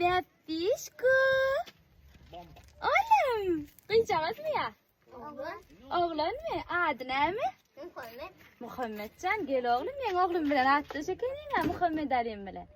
Bäpdişku. Olam, gyýjagazmy ýa? Oglan. Oglanmy? Ady näme? Muhammed. Muhammedjan, gel oglum, meň oglum bilen atdaş ekeniň, ha Muhammed Alim bilen.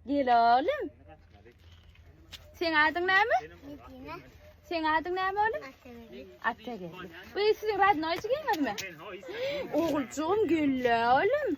Gel oglum. Seň adyň näme? Medine. Seň adyň näme oglum? Atageldi. Atageldi. Bu siziň radnoýçygyňyzmy? Oguljygym, gel oglum.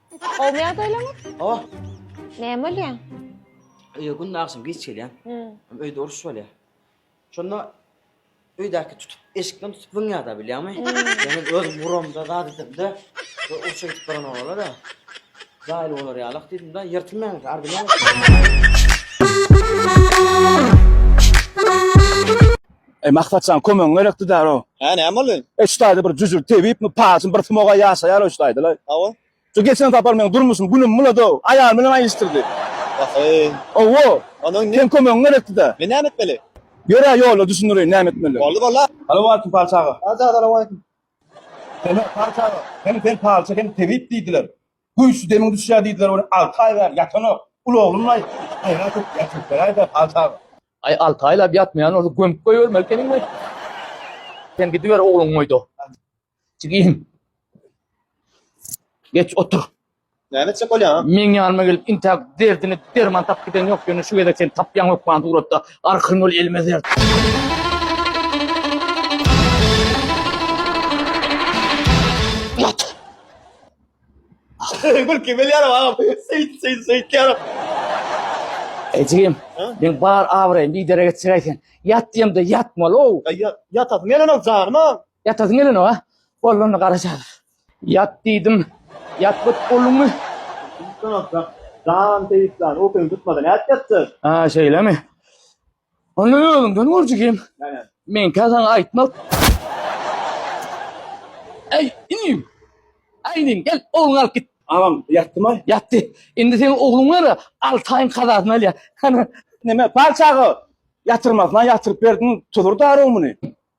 Gowmy ýagdaýlaryňyz? Hawa. Näme bolýar? Öýe günde agşam geç gelýän. Hmm. Öýde uruş bolýar. Şonda öýdäki tutup, eşikden tutup wyňýada bilýäňmi? Ýöne özüm guramda zat edemde, we urşa gidip baran olara-da, jaýly bolar ýalak diýdim-de, ýyrtylmaýan eken, ardymaýan eken. Eý Maksatjan kömegiň gerekdi däl o. Hä näme boldy? E şu taýda bir jüjür tebipmi, paçyn bir smoga ýaşaýar o şu taýda la. Hawa. Şu geçen sapar meň durmuşym günüm bulady o. Aýal bilen aýylyşdyrdy. Waheý. Owo. Onuň ne? Seň kömegiň gerekdi dä. Men näme etmeli? Ýör-ä ýolda düşündireýin näme etmeli. Boldy bolda. Salowaleýkim palçaga. Aja salowaleýkim. Seni palçaga. Hem sen palça hem tebip diýdiler. Güýçli demiň düşýär diýdiler welin alty aý bäri ýatanok. Uly oglumlaý, aýran köp äkitseläý-de alty aý. Aý alty aýlap ýatmaýan bolsa gömüp goýbermeli ekeniň we sen gidiber ogluň goýda. Jigim. Geç otur. Näme etjek bolýaň? Meň ýanyma gelip intä derdine derman tapyp giden ýok ýöne şu gezek sen tapýaň hökman suratda. Arkan bol elime dert. Gülki bilýärin agam. Seýt seýt seýtýärin. Ejigim, meň bar abraýym bidere geçjek-aý sen. Ýat diýemde ýatmaly-ow. Ýatasyň gelenok janyma. Ýatasyň gelenok-a? Boldy onda garaşarys. Ýat diýdim, ýatmadyk bolduňmy? Ýatjak, jan seýisjan, ukyň tutmasa nädip ýatjak? Aa, şeýlemi? Onda özüňden görjek hem meňkä saňa aýtmak. Äý, inim! Äý, inim, gel, ogluňy alyp git! Agam, ýatdymy? Ýatdy. Indi seniň ogluň bar-a, alty aýyň kazasyny alýar. Hany. Näme, pal çaga, ýatyrmasyna ýatyryp berdiň, tudur-da arryň muny.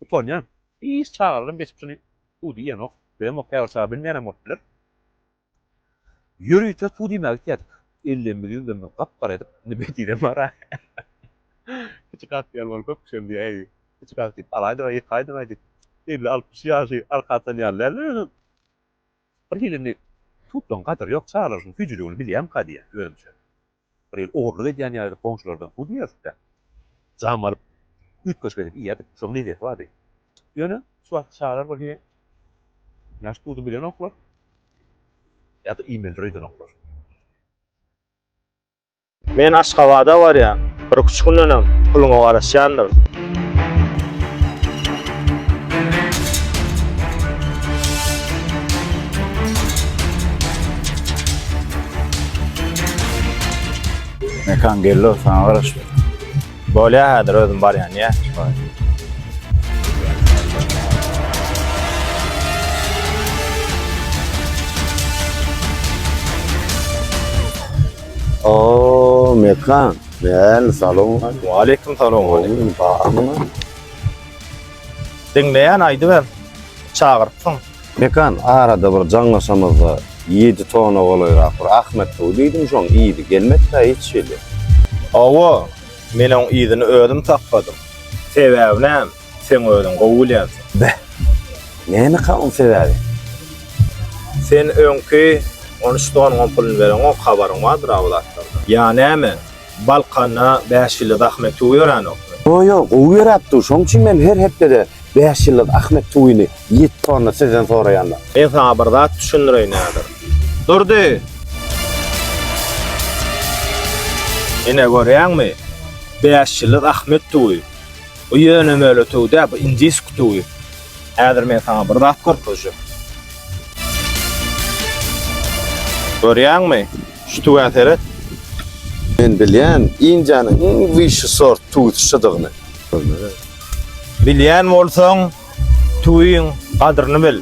Utanýan. Hiç çagalarym geçip şuny suw diýenok, söýemok, käbir çaga bilmeýänem bolup biler. Ýörite suw diýmäge gitýädik. Ellerimizi ýüzlerimizi gap-gara edip, indi bedinem bar-a. Kiçi kak diýen ol köp kişem diýýär, äý, kiçi kak diýip alaýdyň-aý, ýykaýdyň-aý diýip. Elli-altmyş ýaşy arka atan ýaly däldir özem. Birhili indi suwdan gadyr ýok, çagalar şunuň süýjüligini bilýärmika diýýän özümçe. Bir ýyl ogurlyk edýän ýaly goňşulardan pul ýygnadyp-da, jam alyp, üýtgeşik edip iýerdik. Şonuň lezeti bardy. Ýöne, şu wagtky çagalar bolsa ýaş duzuny bilenoklar ýa-da iýmelidir öýdenoklar. Men Aşgabada barýan. Bir-iki gündenem puluňa garaşýandyr. Mekan gello sana garaş. Bolya hadir özüm bar yani ya. Oo mekan. Kän salom. Waleýkim salom. Waleýkim salam. Diňleýän aýdyber. Çagyrypsyň. Mekan arada bir jaňlaşamyzda ýedi tona golaýrak bir Ahmet suwy diýdim şoň yzy gelmedkä hiç hili. Hawa, men oň yzyny özüm tapmadym. Sebäbi näme? Sen özüň gowy gülýänsiň. Beh. Nämeka oň sebäbi? Sen öňki on üç donyňam pulyny bereňok, habaryň bardyr-a bu zatlardan. Ýa näme, Balkanda bäş ýyldyz Ahmet tuwy ýöränokmy? Ýok, ýok, gowy ýöräp dur. Şoň üçin men her hepdede bäş ýyldyz Ahmet tuwyny ýet tonna sizden soraýan-da. Men saňa bir zat düşündireýin häzir. Durdy! Ine görýäňmi, bäş ýyldyz Ahmet tuwy. Bu ýöne möle tüwi däl, bu indisk tüwi. Häzir men saňa bir zat görkezjek. Görýäňmi? Şu tüwä seret. Men bilýän, Indiýanyň iň wişi sort tüwüsi şudygyny. Bilýän bolsaň, tüwiň gadyryny bil.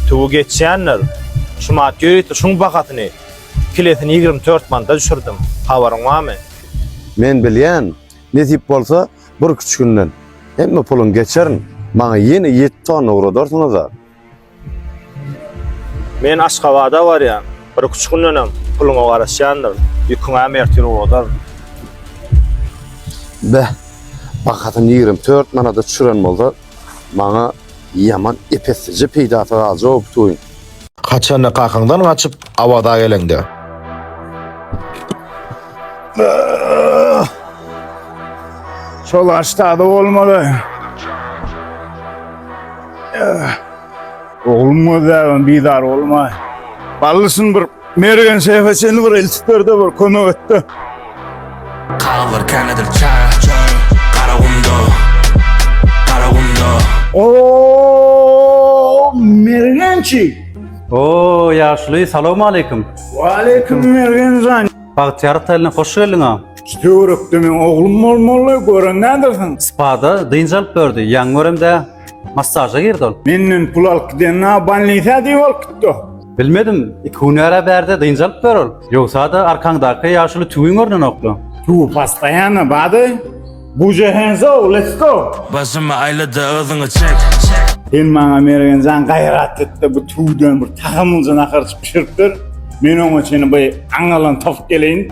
Tüwi geçýändir. Şu manat ýörite şuň bahasyny, kilesini ýigrimi dört manada düşürdim. Habaryň barmy? Men bilýän, nesip bolsa, Bir iki üç günden hemme pulun geçerin. Maňa ýene ýet tonna ugradarsyňyza. Men Aşgabada barýan. Bir iki üç gündenem puluňa garaşýandyr. Ýüküňäm ertir ugradaryn. Beh, bahasyn ýigrimi dört manada çüren bolsa, maňa. Ýaman epeslijä peýdasy galjak o bu toýuň. Haçanda kakyňdan gaçyp Awaza geleňde. Şol aştady bolmaly. Oglum gözläbem bizar bolma. Ballysyn bir. Mergen şeýhe çenli bir eltip berde bir kömek etde. Kallar kanadyr çar çar Karagumda Karagumda Oo Mergençi. Oo yaşly salam aleyküm. Aleyküm Mergen zan. Bagtyýar taýyna hoş geldiň ha. Şu töwerekde men oglum bolmaly gören nädersiň? Spada dynç alyp berdi. Ýaňy göremde massaja girdi ol. Menden pul alyp gidenine banlisa diýip alyp gitdi. Bilmedim, iki hünär-ä bärde dynç alyp ber ol. Ýogsa-da arkaňdaky ýaşuly tüwiň görnenokla. Tüwi pastaýanna bady. Buja hands ow, let's go! Başymy aýla-da yzyňy çek. Sen maňa Mergenjan gaýrat et-de bu tüwden bir tagamlyja nahar bişirip ber. Men oňa çenli by aňňalany tapyp geleýin.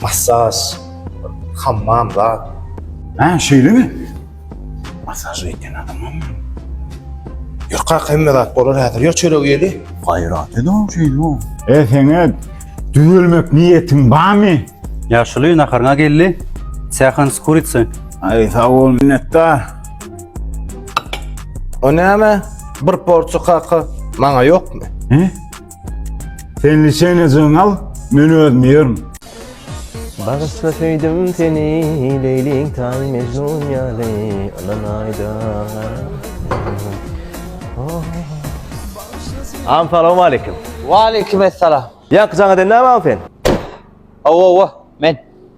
Massaj, hammam zat. Hä, şeýlemi? Massaj etýän adamam bar. Ýör kaka, hemme zat bolar häzir. Ýör çöregi ýeli. Gaýrat ed-ow şeýle. E, seň-ä düzelmek niýetiň barmy? Ýaşuly, naharyňa geldi. Stýahan z kuritsy. Aý, sag bol, minnetdar. O näme? Bir porsiýa kaka, maňa ýokmy? Hä? Sen liçenejyň al, men özüm ýerim. Bagyşla söýdüm seni, Leýliň taýy Mejnun ýaly, Ynam aýda Am salam aleyküm. Waleyküm esselam. Ýaňky jaň eden näme am sen? Awa awa men.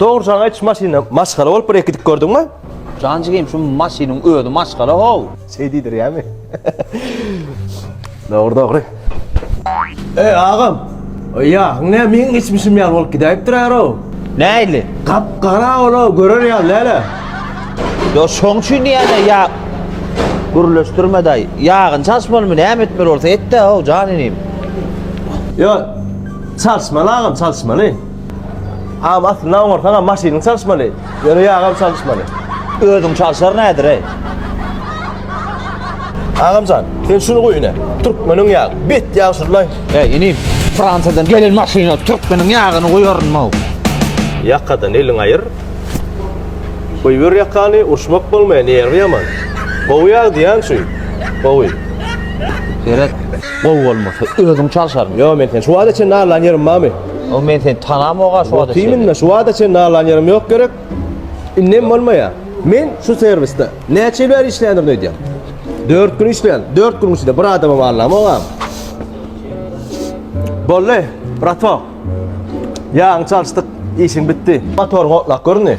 Dogry saňa iç maşyna maşgala bolup bir ekidip gördüňmi? Jan jigim şu maşynyň özi maşgala how. Şeý diýdirýämi? Dogry dogry. Eý agam. Eýa, ne meň geçmişim ýaly bolup gidäýipdir äro. Nähili? Gap gara ol görer ýaly däle. Ýa şoň üçin diýýäne ýa gürleşdirme daýy. Ýagyny çalyşmalymy näme etmeli bolsa etde how jan inim. Ýa çalyşmaly agam çalyşmaly. Agam aslynda oňarsaňam maşynyň çalyşmaly. Ýöne ýagam çalyşmaly. Özüň çalşar nädereý? Agamjan, sen şuny goý ine. Türkmeniň ýagy. Bet ýag şullaý. Eý, inim, Fransiýadan gelen maşyna türkmeniň ýagyny goýarynmaw? Ýakadan eliňi aýyr. Goýber ýakany, urşmak bolmaýar, nerwi ýaman. Gowy ýag diýýän şu. Gowy. Seret, gowy bolmasa, özüň çalşaryň. Ýo, men seni şu wagta çenli allan ýerim barmy? O men seni tanamok a şu wada çenli. Otymin şu wada çenli alan ýerim ýok gerek. Indem bolmaýa. Men şu serwisde näçe ýyl bäri işländirin öýdýän. 4 gün işlän. 4 gün içinde bir adamam allamok a. Bolly, bratok. Ýagyny çalyşdyk, işiň bitdi. Motoryň otlap göründi.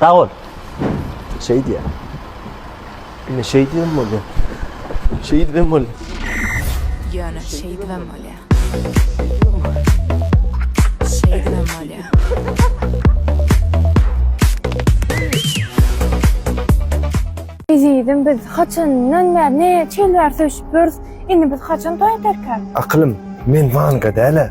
Sag bol. Şeýt ýa. Ine şeýt hem bolýa. Şeýt hem bolýa. Ýöne şeýt hem bolýa. Şeýt hem bolýa. Ezizim biz haçandan bäri ne çelwär söýşüp ýörüs. Indi biz haçan toý ederkäm? Akylym, men manga däl-ä.